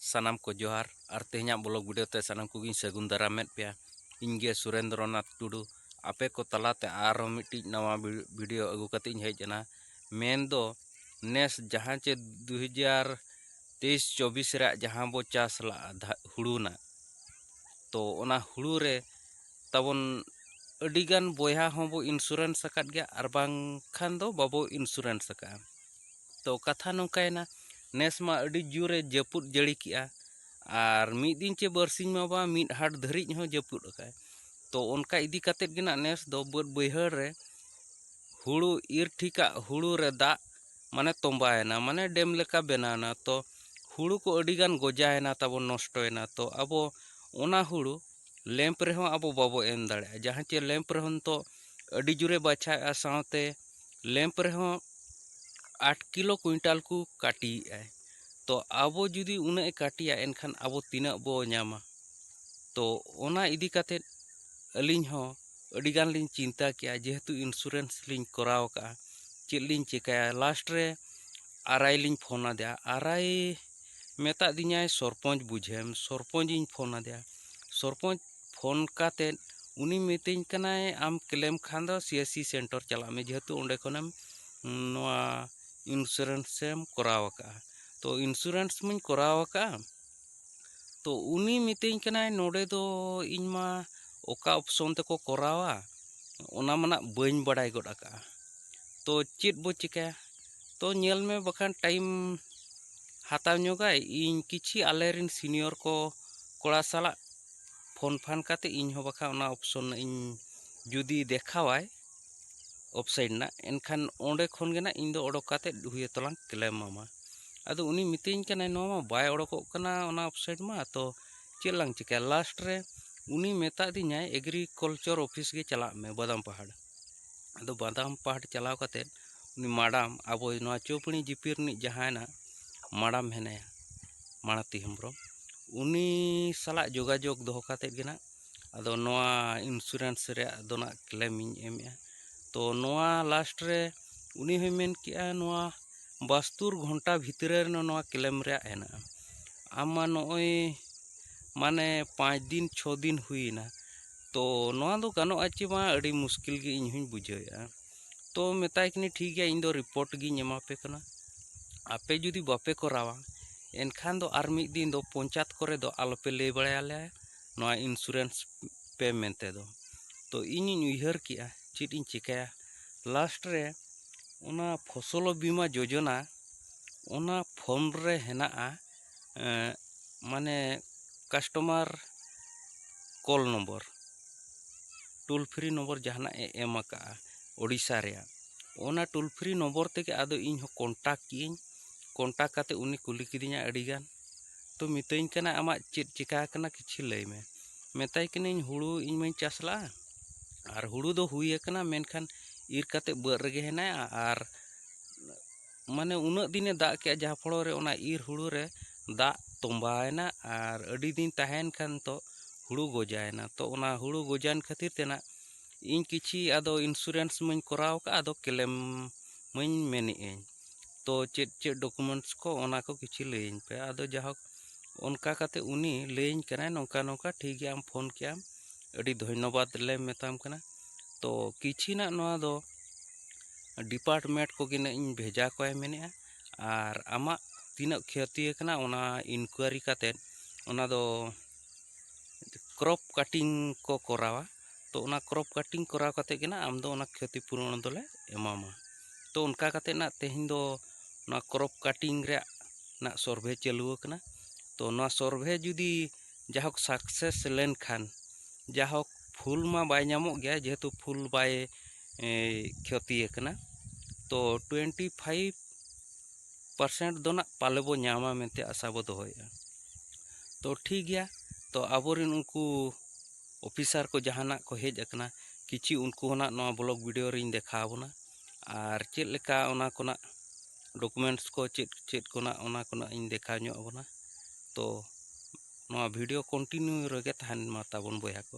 ᱥᱟᱱᱟᱢ ᱠᱚ ᱡᱚᱦᱟᱨ ᱟᱨ ᱛᱮᱦᱮᱧᱟᱜ ᱵᱞᱚᱜ ᱵᱷᱤᱰᱤᱭᱳ ᱛᱮ ᱥᱟᱱᱟᱢ ᱠᱚᱜᱮᱧ ᱥᱟᱹᱜᱩᱱ ᱫᱟᱨᱟᱢᱮᱫ ᱯᱮᱭᱟ ᱤᱧ ᱜᱮ ᱥᱩᱨᱮᱱᱫᱨᱚ ᱱᱟᱛᱷ ᱴᱩᱰᱩ ᱟᱯᱮ ᱠᱚ ᱛᱟᱞᱟᱛᱮ ᱟᱨᱦᱚᱸ ᱢᱤᱫᱴᱤᱡ ᱱᱟᱣᱟ ᱵᱷᱤᱰᱤᱭᱳ ᱟᱹᱜᱩ ᱠᱟᱛᱮ ᱤᱧ ᱦᱮᱡ ᱮᱱᱟ ᱢᱮᱱ ᱫᱚ ᱱᱮᱥ ᱡᱟᱦᱟᱸ ᱪᱮ ᱫᱩ ᱦᱟᱡᱟᱨ ᱛᱮᱭᱤᱥ ᱪᱚᱵᱵᱤᱥ ᱨᱮᱭᱟᱜ ᱡᱟᱦᱟᱸ ᱵᱚ ᱪᱟᱥ ᱞᱟᱜᱼᱟ ᱦᱩᱲᱩ ᱨᱮᱱᱟᱜ ᱛᱚ ᱚᱱᱟ ᱦᱩᱲᱩ ᱨᱮ ᱛᱟᱵᱚᱱ ᱟᱹᱰᱤᱜᱟᱱ ᱵᱚᱭᱦᱟ ᱦᱚᱸᱵᱚ ᱤᱱᱥᱩᱨᱮᱱᱥ ᱟᱠᱟᱫ ᱜᱮᱭᱟ ᱟᱨ ᱵᱟᱝᱠᱷᱟᱱ ᱫᱚ ᱵᱟᱵᱚ ᱤᱱᱥᱩᱨᱮᱱᱥ ᱟᱠᱟᱫᱼᱟ ᱛᱚ ᱠᱟᱛᱷᱟ ᱱᱚᱝᱠᱟᱭᱮᱱᱟ ᱱᱮᱥ ᱢᱟ ᱟᱹᱰᱤ ᱡᱳᱨᱮ ᱡᱟᱹᱯᱩᱫ ᱡᱟᱹᱲᱤ ᱠᱮᱜᱼᱟ ᱟᱨ ᱢᱤᱫ ᱫᱤᱱ ᱪᱮ ᱵᱟᱨᱥᱤᱧ ᱢᱟ ᱵᱟᱝ ᱢᱤᱫ ᱦᱟᱴ ᱫᱷᱟᱹᱨᱤᱡ ᱦᱚᱸ ᱡᱟᱹᱯᱩᱫ ᱟᱠᱟᱫᱼᱟᱭ ᱛᱚ ᱚᱱᱠᱟ ᱤᱫᱤ ᱠᱟᱛᱮ ᱜᱮ ᱱᱟᱜ ᱱᱮᱥ ᱫᱚ ᱵᱟᱹᱫᱽ ᱵᱟᱹᱭᱦᱟᱹᱲ ᱨᱮ ᱦᱩᱲᱩ ᱤᱨ ᱴᱷᱤᱠᱟᱜ ᱦᱩᱲᱩ ᱨᱮ ᱫᱟᱜ ᱢᱟᱱᱮ ᱛᱚᱸᱵᱟᱭᱮᱱᱟ ᱢᱟᱱᱮ ᱰᱮᱢ ᱞᱮᱠᱟ ᱵᱮᱱᱟᱣᱮᱱᱟ ᱛᱚ ᱦᱩᱲᱩ ᱠᱚ ᱟᱹᱰᱤ ᱜᱟᱱ ᱜᱚᱡᱟᱭᱮᱱᱟ ᱛᱟᱵᱚᱱ ᱱᱚᱥᱴᱚᱭᱮᱱᱟ ᱛᱚ ᱟᱵᱚ ᱚᱱᱟ ᱦᱩᱲᱩ ᱞᱮᱢᱯ ᱨᱮᱦᱚᱸ ᱟᱵᱚ ᱵᱟᱵᱚ ᱮᱢ ᱫᱟᱲᱮᱭᱟᱜᱼᱟ ᱡᱟᱦᱟᱸ ᱪᱮ ᱞᱮᱢᱯ ᱨᱮᱦᱚᱸ ᱱᱤᱛᱚᱜ ᱟᱹᱰᱤ ᱡᱳᱨᱮ ᱵᱟᱪᱷᱟᱣᱮᱫᱼᱟ ᱥᱟᱶᱛᱮ ᱞᱮᱢᱯ ᱨᱮᱦᱚᱸ ᱟᱴ ᱠᱤᱞᱳ ᱠᱩᱭᱤᱱᱴᱟᱞ ᱠᱚ ᱠᱟᱹᱴᱤᱭᱮᱫᱼᱟ ᱛᱚ ᱟᱵᱚ ᱡᱩᱫᱤ ᱩᱱᱟᱹᱜ ᱮ ᱠᱟᱹᱴᱤᱭᱟ ᱮᱱᱠᱷᱟᱱ ᱟᱵᱚ ᱛᱤᱱᱟᱹᱜ ᱵᱚ ᱧᱟᱢᱟ ᱛᱚ ᱚᱱᱟ ᱤᱫᱤ ᱠᱟᱛᱮᱫ ᱟᱹᱞᱤᱧ ᱦᱚᱸ ᱟᱹᱰᱤ ᱜᱟᱱ ᱞᱤᱧ ᱪᱤᱱᱛᱟᱹ ᱠᱮᱜᱼᱟ ᱡᱮᱦᱮᱛᱩ ᱤᱱᱥᱩᱨᱮᱱᱥ ᱞᱤᱧ ᱠᱚᱨᱟᱣ ᱠᱟᱜᱼᱟ ᱪᱮᱫ ᱞᱤᱧ ᱪᱤᱠᱟᱹᱭᱟ ᱞᱟᱥᱴ ᱨᱮ ᱟᱨ ᱟᱭ ᱞᱤᱧ ᱯᱷᱳᱱ ᱟᱫᱮᱭᱟ ᱟᱨ ᱟᱭ ᱢᱮᱛᱟᱜ ᱫᱤᱧᱟᱭ ᱥᱚᱨᱯᱚᱧᱪ ᱵᱩᱡᱷᱟᱹᱣᱮᱢ ᱥᱚᱨᱯᱚᱧᱪ ᱤᱧ ᱯᱷᱳᱱ ᱟᱫᱮᱭᱟ ᱥᱚᱨᱯᱚᱧᱪ ᱯᱷᱳᱱ ᱠᱟᱛᱮ ᱩᱱᱤ ᱢᱤᱛᱟᱹᱧ ᱠᱟᱱᱟᱭ ᱟᱢ ᱠᱞᱮᱢ ᱠᱷᱟᱱ ᱫᱚ ᱥᱤ ᱮᱥ ᱥᱤ ᱥᱮᱱᱴᱟᱨ ᱪᱟᱞᱟᱜ ᱢᱮ ᱡᱮᱦᱮᱛᱩ ᱚᱸᱰᱮ ᱠᱷᱚᱱᱮᱢ ᱱᱚᱣᱟ ᱤᱱᱥᱩᱨᱮᱱᱥ ᱮᱢ ᱠᱚᱨᱟᱣ ᱟᱠᱟᱫᱼᱟ ᱛᱚ ᱤᱱᱥᱩᱨᱮᱱᱥ ᱢᱟᱹᱧ ᱠᱚᱨᱟᱣ ᱟᱠᱟᱫᱼᱟ ᱛᱚ ᱩᱱᱤ ᱢᱤᱛᱟᱹᱧ ᱠᱟᱱᱟᱭ ᱱᱚᱰᱮ ᱫᱚ ᱤᱧ ᱢᱟ ᱚᱠᱟ ᱚᱯᱥᱚᱱ ᱛᱮᱠᱚ ᱠᱚᱨᱟᱣᱟ ᱚᱱᱟ ᱢᱟᱱᱟᱜ ᱵᱟᱹᱧ ᱵᱟᱲᱟᱭ ᱜᱚᱫ ᱟᱠᱟᱫᱼᱟ ᱛᱚ ᱪᱮᱫ ᱵᱚ ᱪᱤᱠᱟᱹᱭᱟ ᱛᱚ ᱧᱮᱞ ᱢᱮ ᱵᱟᱠᱷᱟᱱ ᱴᱟᱭᱤᱢ ᱦᱟᱛᱟᱣ ᱧᱚᱜᱟᱭ ᱤᱧ ᱠᱤᱪᱷᱤ ᱟᱞᱮ ᱨᱮᱱ ᱥᱤᱱᱤᱭᱚᱨ ᱠᱚ ᱠᱚᱲᱟ ᱥᱟᱞᱟᱜ ᱯᱷᱳᱱ ᱯᱷᱟᱱ ᱠᱟᱛᱮ ᱤᱧ ᱦᱚᱸ ᱵᱟᱠᱷᱟᱱ ᱚᱱᱟ ᱚᱯᱷᱥᱚᱱ ᱨᱮᱱᱟᱜ ᱤᱧ ᱡᱩᱫᱤ ᱫᱮᱠᱷᱟᱣᱟᱭ ᱚᱯᱷᱥᱟᱭᱤᱰ ᱨᱮᱱᱟᱜ ᱮᱱᱠᱷᱟᱱ ᱚᱸᱰᱮ ᱠᱷᱚᱱ ᱜᱮ ᱱᱟᱜ ᱤᱧ ᱫᱚ ᱚᱰᱚᱠ ᱠᱟᱛᱮ ᱦᱩᱭᱩᱜ ᱛᱟᱞᱟᱝ ᱠᱞᱮᱢ ᱟᱢᱟ ᱟᱫᱚ ᱩᱱᱤ ᱢᱤᱛᱟᱹᱧ ᱠᱟᱱᱟᱭ ᱱᱚᱣᱟ ᱢᱟ ᱵᱟᱭ ᱚᱰᱚᱠᱚᱜ ᱠᱟᱱᱟ ᱚᱱᱟ ᱚᱯᱷᱥᱟᱭᱤᱰ ᱢᱟ ᱛᱚ ᱪᱮᱫ ᱞᱟᱝ ᱪᱤᱠᱟᱹᱭᱟ ᱞᱟᱥᱴ ᱨᱮ ᱩᱱᱤ ᱢᱮᱛᱟ ᱫᱤᱧᱟᱭ ᱮᱜᱽᱨᱤᱠᱟᱞᱪᱟᱨ ᱚᱯᱷᱤᱥ ᱜᱮ ᱪᱟᱞᱟᱜ ᱢᱮ ᱵᱟᱫᱟᱢ ᱯᱟᱦᱟᱲ ᱟᱫᱚ ᱵᱟᱫᱟᱢ ᱯᱟᱴ ᱪᱟᱞᱟᱣ ᱠᱟᱛᱮ ᱩᱱᱤ ᱢᱟᱰᱟᱢ ᱟᱵᱚ ᱱᱚᱣᱟ ᱪᱳᱯᱟᱹᱲᱤ ᱡᱤᱯᱤ ᱨᱤᱱᱤᱡ ᱡᱟᱦᱟᱸᱭ ᱱᱟᱜ ᱢᱟᱰᱟᱢ ᱢᱮᱱᱟᱭᱟ ᱢᱟᱬᱟᱛᱤ ᱦᱮᱢᱵᱨᱚᱢ ᱩᱱᱤ ᱥᱟᱞᱟᱜ ᱡᱳᱜᱟᱡᱳᱜᱽ ᱫᱚᱦᱚ ᱠᱟᱛᱮ ᱜᱮ ᱱᱟᱜ ᱟᱫᱚ ᱱᱚᱣᱟ ᱤᱱᱥᱩᱨᱮᱱᱥ ᱨᱮᱭᱟᱜ ᱫᱚ ᱱᱟᱜ ᱠᱞᱮᱢ ᱤᱧ ᱮᱢᱮᱜᱼᱟ ᱛᱚ ᱱᱚᱣᱟ ᱞᱟᱥᱴ ᱨᱮ ᱩᱱᱤ ᱦᱚᱸᱭ ᱢᱮᱱ ᱠᱮᱜᱼᱟ ᱱᱚᱣᱟ ᱵᱟᱥᱛᱩᱨ ᱜᱷᱚᱱᱴᱟ ᱵᱷᱤᱛᱨᱤ ᱨᱮ ᱱᱚᱣᱟ ᱠᱞᱮᱢ ᱨᱮᱭᱟᱜ ᱦᱮᱱᱟᱜᱼᱟ ᱟᱢ ᱢᱟ ᱱᱚᱜᱼᱚᱭ ᱢᱟᱱᱮ ᱯᱟᱸᱪ ᱫᱤᱱ ᱪᱷᱚ ᱫᱤᱱ ᱦᱩᱭᱮᱱᱟ ᱛᱚ ᱱᱚᱣᱟ ᱫᱚ ᱜᱟᱱᱚᱜᱼᱟ ᱪᱮ ᱵᱟᱝ ᱟᱹᱰᱤ ᱢᱩᱥᱠᱤᱞ ᱜᱮ ᱤᱧ ᱦᱚᱸᱧ ᱵᱩᱡᱷᱟᱹᱣᱮᱫᱼᱟ ᱛᱚ ᱢᱮᱛᱟᱭ ᱠᱟᱹᱱᱟᱹᱧ ᱴᱷᱤᱠ ᱜᱮᱭᱟ ᱤᱧ ᱫᱚ ᱨᱤᱯᱳᱨᱴ ᱜᱤᱧ ᱮᱢᱟ ᱯᱮ ᱠᱟᱱᱟ ᱟᱯᱮ ᱡᱩᱫᱤ ᱵᱟᱯᱮ ᱠᱚᱨᱟᱣᱟ ᱮᱱᱠᱷᱟᱱ ᱫᱚ ᱟᱨ ᱢᱤᱫ ᱫᱤᱱ ᱫᱚ ᱯᱚᱧᱪᱟᱭᱮᱛ ᱠᱚᱨᱮ ᱫᱚ ᱟᱞᱚ ᱯᱮ ᱞᱟᱹᱭ ᱵᱟᱲᱟᱭᱟ ᱞᱮᱭᱟ ᱱᱚᱣᱟ ᱤᱱᱥᱩᱨᱮᱱᱥ ᱯᱮ ᱢᱮᱱᱛᱮ ᱫᱚ ᱛᱚ ᱤᱧᱤᱧ ᱩᱭᱦᱟᱹᱨ ᱠᱮᱜᱼᱟ ᱪᱮᱫ ᱤᱧ ᱪᱤᱠᱟᱹᱭᱟ ᱞᱟᱥᱴ ᱨᱮ ᱚᱱᱟ ᱯᱷᱚᱥᱚᱞᱚ ᱵᱤᱢᱟ ᱡᱳᱡᱚᱱᱟ ᱚᱱᱟ ᱯᱷᱳᱱ ᱨᱮ ᱦᱮᱱᱟᱜᱼᱟ ᱢᱟᱱᱮ customer call number toll free number ᱡᱟᱦᱟᱱᱟᱜ ᱮ ᱮᱢ ᱟᱠᱟᱫᱼᱟ ᱳᱰᱤᱥᱟ ᱨᱮᱭᱟᱜ ᱚᱱᱟ ᱴᱳᱞ ᱯᱷᱨᱤ ᱱᱚᱢᱵᱚᱨ ᱛᱮᱜᱮ ᱟᱫᱚ ᱤᱧ ᱦᱚᱸ ᱠᱚᱱᱴᱟᱠᱴ ᱠᱮᱫᱟᱹᱧ ᱠᱚᱱᱴᱟᱠᱴ ᱠᱟᱛᱮ ᱩᱱᱤ ᱠᱩᱞᱤ ᱠᱤᱫᱤᱧᱟᱭ ᱟᱹᱰᱤ ᱜᱟᱱ ᱛᱚ ᱢᱤᱛᱟᱹᱧ ᱠᱟᱱᱟᱭ ᱟᱢᱟᱜ ᱪᱮᱫ ᱪᱤᱠᱟᱹ ᱟᱠᱟᱱᱟ ᱠᱤᱪᱷᱩ ᱞᱟᱹᱭ ᱢᱮ ᱢᱮᱛᱟᱭ ᱠᱟᱹᱱᱟᱹᱧ ᱦᱩᱲᱩ ᱤᱧ ᱢᱟᱹᱧ ᱪᱟᱥ ᱞᱟᱜᱼᱟ ᱟᱨ ᱦᱩᱲᱩ ᱫᱚ ᱦᱩᱭ ᱟᱠᱟᱱᱟ ᱢᱮᱱᱠᱷᱟᱱ ᱤᱨ ᱠᱟᱛᱮ ᱵᱟᱹᱫᱽ ᱨᱮᱜᱮ ᱦᱮᱱᱟᱭᱟ ᱟᱨ ᱢᱟᱱᱮ ᱩᱱᱟᱹᱜ ᱫᱤᱱᱮ ᱫᱟᱜ ᱠᱮᱫᱼᱟ ᱡᱟᱦᱟᱸ ᱯᱷᱚᱲᱚ ᱨᱮ ᱚᱱᱟ ᱤᱨ ᱦᱩᱲᱩ ᱨᱮ ᱫᱟᱜ ᱛᱚᱸᱵᱟᱭᱮᱱᱟ ᱟᱨ ᱟᱹᱰᱤ ᱫᱤᱱ ᱛᱟᱦᱮᱸᱭᱮᱱ ᱠᱷᱟᱱ ᱛᱚ ᱦᱩᱲᱩ ᱜᱚᱡᱟᱭᱮᱱᱟ ᱛᱚ ᱚᱱᱟ ᱦᱩᱲᱩ ᱜᱚᱡᱟᱭᱮᱱ ᱠᱷᱟᱹᱛᱤᱨ ᱛᱮ ᱱᱟᱜ ᱤᱧ ᱠᱤᱪᱷᱤ ᱟᱫᱚ ᱤᱱᱥᱩᱨᱮᱱᱥ ᱢᱟᱹᱧ ᱠᱚᱨᱟᱣ ᱟᱠᱟᱫ ᱟᱫᱚ ᱠᱞᱮᱢ ᱢᱟᱹᱧ ᱢᱮᱱᱮᱫ ᱟᱹᱧ ᱛᱚ ᱪᱮᱫ ᱪᱮᱫ ᱰᱚᱠᱩᱢᱮᱱᱴᱥ ᱠᱚ ᱚᱱᱟ ᱠᱚ ᱠᱤᱪᱷᱤ ᱞᱟᱹᱭᱟᱹᱧ ᱯᱮ ᱟᱫᱚ ᱡᱟᱭᱦᱳᱠ ᱚᱱᱠᱟ ᱠᱟᱛᱮᱫ ᱩᱱᱤ ᱞᱟᱹᱭᱟᱹᱧ ᱠᱟᱱᱟᱭ ᱱᱚᱝᱠᱟ ᱱᱚᱝᱠᱟ ᱴᱷᱤᱠ ᱜᱮᱭᱟ ᱟᱢ ᱯᱷᱳᱱ ᱠᱮᱫᱼᱟᱢ ᱟᱹᱰᱤ ᱫᱷᱚᱱᱱᱚᱵᱟᱫᱽ ᱞᱮ ᱢᱮᱛᱟᱢ ᱠᱟᱱᱟ ᱛᱚ ᱠᱤᱪᱷᱤᱱᱟᱜ ᱱᱚᱣᱟ ᱫᱚ ᱰᱤᱯᱟᱨᱴᱢᱮᱱᱴ ᱠᱚᱜᱮ ᱱᱟᱜ ᱤᱧ ᱵᱷᱮᱡᱟ ᱠᱚᱣᱟᱭ ᱢᱮᱱᱮᱫᱼᱟ ᱟᱨ ᱟᱢᱟᱜ ᱛᱤᱱᱟᱹᱜ ᱠᱷᱚᱛᱤ ᱟᱠᱟᱱᱟ ᱚᱱᱟ ᱤᱱᱠᱩᱭᱟᱨᱤ ᱠᱟᱛᱮᱫ ᱚᱱᱟ ᱫᱚ ᱠᱨᱚᱯ ᱠᱟᱴᱤᱝ ᱠᱚ ᱠᱚᱨᱟᱣᱟ ᱛᱚ ᱚᱱᱟ ᱠᱨᱚᱯ ᱠᱟᱴᱤᱝ ᱠᱚᱨᱟᱣ ᱠᱟᱛᱮᱫ ᱜᱮ ᱱᱟᱜ ᱟᱢ ᱫᱚ ᱚᱱᱟ ᱠᱷᱚᱛᱤ ᱯᱩᱨᱚᱱ ᱫᱚᱞᱮ ᱮᱢᱟᱢᱟ ᱛᱚ ᱚᱱᱠᱟ ᱠᱟᱛᱮᱫ ᱱᱟᱜ ᱛᱮᱦᱮᱧ ᱫᱚ ᱱᱚᱣᱟ ᱠᱨᱚᱯ ᱠᱟᱴᱤᱝ ᱨᱮᱭᱟᱜ ᱱᱟᱜ ᱥᱚᱨᱵᱷᱮ ᱪᱟᱹᱞᱩ ᱟᱠᱟᱱᱟ ᱛᱚ ᱱᱚᱣᱟ ᱥᱚᱨᱵᱷᱮ ᱡᱩᱫᱤ ᱡᱟᱭᱦᱳᱠ ᱥᱟᱠᱥᱮᱥ ᱞᱮᱱᱠᱷᱟᱱ ᱡᱟᱭᱦᱳᱠ ᱯᱷᱩᱞ ᱢᱟ ᱵᱟᱭ ᱧᱟᱢᱚᱜ ᱜᱮᱭᱟ ᱡᱮᱦᱮᱛᱩ ᱯᱷᱩᱞ ᱵᱟᱭ ᱠᱷᱚᱛᱤ ᱟᱠᱟᱱᱟ ᱛᱚ ᱴᱩᱭᱮᱱᱴᱤ ᱯᱷᱟᱭᱤᱵᱷ ᱯᱟᱨᱥᱮᱱᱴ ᱫᱚ ᱱᱟᱜ ᱯᱟᱞᱮ ᱵᱚ ᱧᱟᱢᱟ ᱢᱮᱱᱛᱮ ᱟᱥᱟ ᱵᱚ ᱫᱚᱦᱚᱭᱮᱫᱼᱟ ᱛᱚ ᱴᱷᱤᱠ ᱜᱮᱭᱟ ᱛᱚ ᱟᱵᱚᱨᱮᱱ ᱩᱱᱠᱩ ᱚᱯᱷᱤᱥᱟᱨ ᱠᱚ ᱡᱟᱦᱟᱱᱟᱜ ᱠᱚ ᱦᱮᱡ ᱟᱠᱟᱱᱟ ᱠᱤᱪᱷᱩ ᱩᱱᱠᱩ ᱦᱚᱸ ᱱᱟᱜ ᱱᱚᱣᱟ ᱵᱞᱚᱜᱽ ᱵᱷᱤᱰᱭᱳ ᱨᱤᱧ ᱫᱮᱠᱷᱟᱣ ᱟᱵᱚᱱᱟ ᱟᱨ ᱪᱮᱫ ᱞᱮᱠᱟ ᱚᱱᱟ ᱠᱚ ᱱᱟᱜ ᱰᱚᱠᱩᱢᱮᱱᱴᱥ ᱠᱚ ᱪᱮᱫ ᱪᱮᱫ ᱠᱚ ᱱᱟᱜ ᱚᱱᱟ ᱠᱚ ᱱᱟᱜ ᱤᱧ ᱫᱮᱠᱷᱟᱣ ᱧᱚᱜ ᱟᱵᱚᱱᱟ ᱛᱚ ᱱᱚᱣᱟ ᱵᱷᱤᱰᱤᱭᱳ ᱠᱚᱱᱴᱤᱱᱤᱭᱩ ᱨᱮᱜᱮ ᱛᱟᱦᱮᱱ ᱢᱟ ᱛᱟᱵᱚᱱ ᱵᱚᱭᱦᱟ ᱠᱚ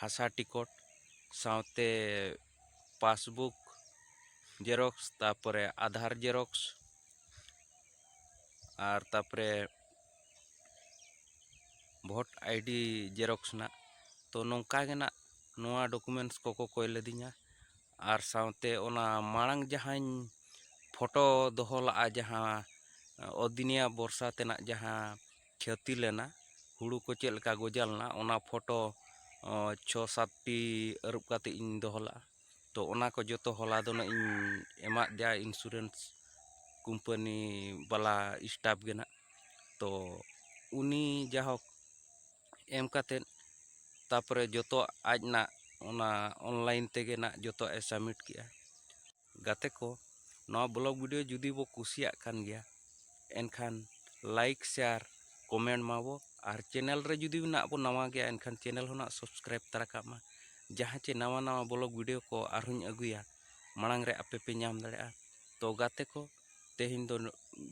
ᱦᱟᱥᱟ ᱴᱤᱠᱤᱴ ᱥᱟᱶᱛᱮ ᱯᱟᱥᱵᱩᱠ ᱡᱮᱨᱚᱠᱥ ᱛᱟᱨᱯᱚᱨᱮ ᱟᱫᱷᱟᱨ ᱡᱮᱨᱚᱠᱥ ᱟᱨ ᱛᱟᱨᱯᱚᱨᱮ ᱵᱷᱳᱴ ᱟᱭᱰᱤ ᱡᱮᱨᱚᱠᱥ ᱨᱮᱱᱟᱜ ᱛᱚ ᱱᱚᱝᱠᱟ ᱜᱮ ᱦᱟᱸᱜ ᱱᱚᱣᱟ ᱰᱚᱠᱩᱢᱮᱱᱴᱥ ᱠᱚᱠᱚ ᱠᱚᱭ ᱞᱤᱫᱤᱧᱟ ᱟᱨ ᱥᱟᱶᱛᱮ ᱚᱱᱟ ᱢᱟᱲᱟᱝ ᱡᱟᱦᱟᱸᱧ ᱯᱷᱳᱴᱳ ᱫᱚᱦᱚ ᱞᱟᱜᱼᱟ ᱡᱟᱦᱟᱸ ᱚᱫᱤᱱᱤᱭᱟ ᱵᱚᱨᱥᱟ ᱛᱮᱱᱟᱜ ᱡᱟᱦᱟᱸ ᱠᱷᱚᱛᱤ ᱞᱮᱱᱟ ᱦᱩᱲᱩ ᱠᱚ ᱪᱮᱫ ᱞᱮᱠᱟ ᱜᱚᱡᱟᱣ ᱞᱮᱱᱟ ᱚᱱᱟ ᱯᱷᱳᱴᱳ ᱪᱷᱚ ᱥᱟᱛᱴᱤ ᱟᱹᱨᱩᱵ ᱠᱟᱛᱮᱫ ᱤᱧ ᱫᱚᱦᱚ ᱞᱮᱫᱼᱟ ᱛᱳ ᱚᱱᱟ ᱠᱚ ᱡᱚᱛᱚ ᱦᱚᱞᱟ ᱫᱚ ᱦᱟᱸᱜ ᱤᱧ ᱮᱢᱟᱜ ᱫᱮᱭᱟ ᱤᱱᱥᱩᱨᱮᱱᱥ ᱠᱳᱢᱯᱟᱱᱤ ᱵᱟᱞᱟ ᱥᱴᱟᱯᱷ ᱜᱮ ᱦᱟᱸᱜ ᱛᱳ ᱩᱱᱤ ᱡᱟᱭᱦᱳᱠ ᱮᱢ ᱠᱟᱛᱮᱫ ᱛᱟᱨᱯᱚᱨᱮ ᱡᱚᱛᱚ ᱟᱡ ᱦᱟᱸᱜ ᱚᱱᱟ ᱚᱱᱞᱟᱭᱤᱱ ᱛᱮᱜᱮ ᱦᱟᱸᱜ ᱡᱚᱛᱚᱣᱟᱜ ᱮ ᱥᱟᱵᱽᱢᱤᱴ ᱠᱮᱫᱼᱟ ᱜᱟᱛᱮ ᱠᱚ ᱱᱚᱣᱟ ᱵᱞᱚᱜᱽ ᱵᱷᱤᱰᱭᱳ ᱡᱩᱫᱤ ᱵᱚ ᱠᱩᱥᱤᱭᱟᱜ ᱠᱟᱱ ᱜᱮᱭᱟ ᱮᱱᱠᱷᱟᱱ ᱞᱟᱭᱤᱠ ᱥᱮᱭᱟᱨ ᱠᱚᱢᱮᱱᱴ ᱢᱟᱵᱚ ᱟᱨ ᱪᱮᱱᱮᱞ ᱨᱮ ᱡᱩᱫᱤ ᱱᱟᱜ ᱵᱚ ᱱᱟᱣᱟ ᱜᱮᱭᱟ ᱮᱱᱠᱷᱟᱱ ᱪᱮᱱᱮᱞ ᱦᱚᱸ ᱱᱟᱜ ᱥᱟᱵᱥᱠᱨᱟᱭᱤᱵᱽ ᱛᱟᱨᱟ ᱠᱟᱜ ᱢᱟ ᱡᱟᱦᱟᱸ ᱪᱮ ᱱᱟᱣᱟ ᱱᱟᱣᱟ ᱵᱞᱚᱜᱽ ᱵᱷᱤᱰᱭᱳ ᱠᱚ ᱟᱨᱦᱚᱸᱧ ᱟᱹᱜᱩᱭᱟ ᱢᱟᱲᱟᱝ ᱨᱮ ᱟᱯᱮ ᱯᱮ ᱧᱟᱢ ᱫᱟᱲᱮᱭᱟᱜᱼᱟ ᱛᱚ ᱜᱟᱛᱮ ᱠᱚ ᱛᱮᱦᱮᱧ ᱫᱚ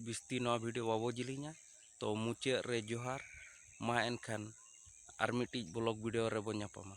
ᱵᱤᱥᱛᱤ ᱱᱚᱣᱟ ᱵᱷᱤᱰᱭᱳ ᱵᱟᱵᱚ ᱡᱤᱞᱤᱧᱟ ᱛᱚ ᱢᱩᱪᱟᱹᱫ ᱨᱮ ᱡᱚᱦᱟᱨ ᱢᱟ ᱮᱱᱠᱷᱟᱱ ᱟᱨ ᱢᱤᱫᱴᱤᱡ ᱵᱞᱚᱜᱽ ᱵᱷᱤᱰᱭᱳ ᱨᱮᱵᱚ ᱧᱟᱯᱟᱢᱟ